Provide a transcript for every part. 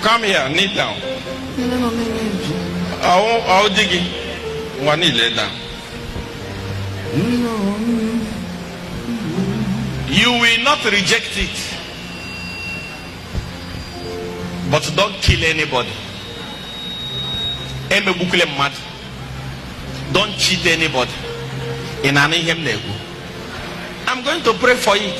Come here, kneel down. Ọ dị gị nwa kneel down. You will not reject it. But don't kill anybody. Emegbukwule mmadụ. Don't cheat anybody. Ị na-anụ ihe m na-ekwu. I'm going to pray for it.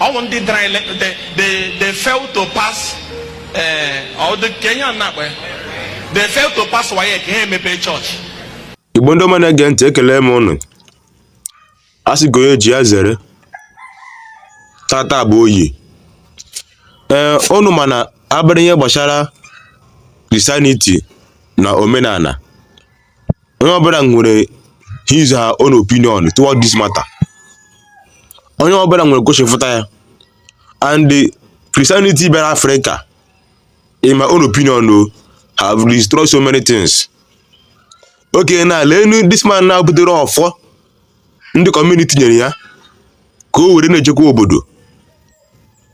ọ wụ ndị dara ule they they they failed to pass eh, kedụ ihe a na-akpọ ya they failed to pass WAEC ha emepee church igbo ndị ọma na-ege ntị ekelee m ụnụ a sị ka onye ji ya zere tata bụ oyi ee ụnụ ma na a bịara ihe gbasara Christianity na omenala onye ọbụla nwere his her own opinion toward this matter onye ọbụla nwere gosifụta ya and the Christianity bịara Africa in my own opinion have destroyed so many things okay na leenu this man na butere ọfọ ndị community nyere ya ka o were na-echekwa obodo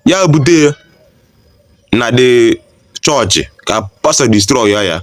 ya bute ya na the church ka pastor destroy ya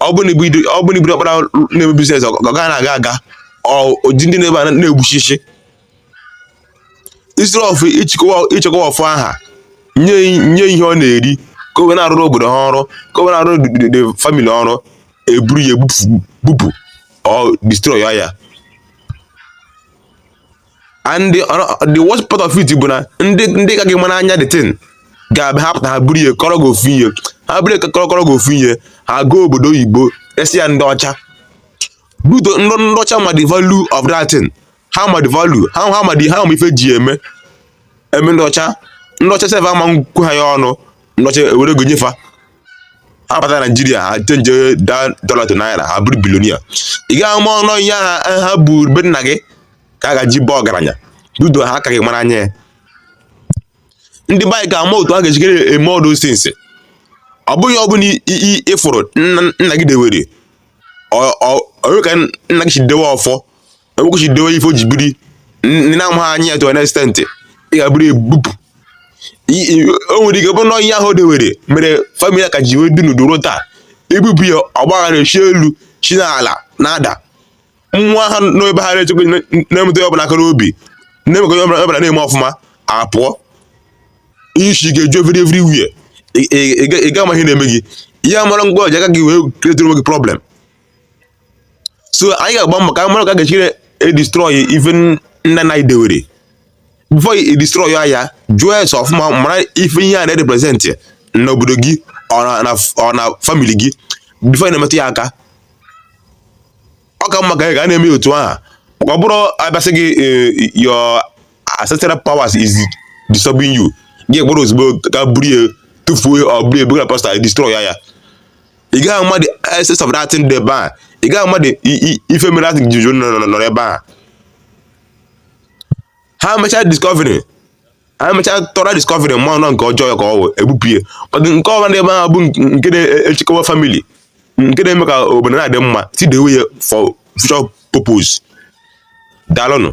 ọ bụ na ị bụ- ọ bụ na ị bụrụ ọkpara na-eme business ọ gaghị na-aga aga ọ- o ji ndị na-ebe a na-egbuchichi instead of ichekwa ichekwa ọfọ aha nye nye ihe ọ na-eri ka o wee na-arụrụ obodo ha ọrụ ka o wee na-arụrụ the- the- the family ọrụ eburu ya ebupụ bupụ or destroy ya and the, the worst part of it bụ na ndị ndị ka gị mara anya the thing ga-abịa ha pụta ha buru ihe kọrọ gị ofu ihe ha buru kọrọ kọrọ gị ofu ihe ha gaa obodo oyibo resị ya ndị ọcha but ndị ndị ọcha ma the value of that thing ha ma the value ha ha ma the ha ma ife ji eme eme ndị ọcha ndị ọcha sef ama nkwu ha ya ọnụ ndị ọcha ewere ego nyefa ha bata Nigeria ha change the dollar to naira ha bụrụ billionaire ị gaghị ama ọnụ ihe ha ha bụ be nna gị ka a ga ji baa ọgaranya due to ha ka gị mara anya ya ndị be anyị ga-ama otu a ga-ejikere eme all those things ọ bụghị ihe ọ bụla ị fụrụ nna gị dewere o nwe ka nna gị si dewe ọfọ o nwe ka o si dewe ife o ji biri ndụ ị na-amaghị anya ya to an extent ị gaa buru ya bupụ o nwere ike bụrụ na ihe ahụ dewere mere family ya ka ji wee dị ndụ ruo taa ebupụ ya ọgbaghara esi elu si n'ala na-ada nwa ha nọ ebe ha na-echekwa na-emetụ ihe ọbụla aka n'obi na-emekọ ihe ọbụla na-eme ọfụma apụọ isi ga-eju every everywhere ị ga ama ihe na-eme gị ihe amara ngwa o ji aka gị wee createre onwe gị problem so anyị ga-agba mbọ ka mara ka ga-ejiri edestroy ife nna nna gị dewere before edestroy ya jụọ ese ọfụma mara ife ihe a na-erepresent n'obodo gị or na family gị before ị na-emetụ ya aka ọ ka mma ka anyị ga na-eme otu ahụ maka ọ bụrụ a bịa sị gị eh, your ancestral powers is disturbing you gị gbara ozugbo ka buru ya tufuo or buru ya buga pastor destroy ya ị gaghị ama the essence of that thing dị ebe a ị gaghị ama the ife mere that thing jiri nọ ebe a ha mechaa discovery ha mechaa thorough discovery mara na nke ọjọọ ya ka ọ wụ ebupụ ya nke ọbụla ebe ahụ bụ nke na-echekwa family nke na-eme ka obodo na-adị mma still dewe ya for future purpose daalụnụ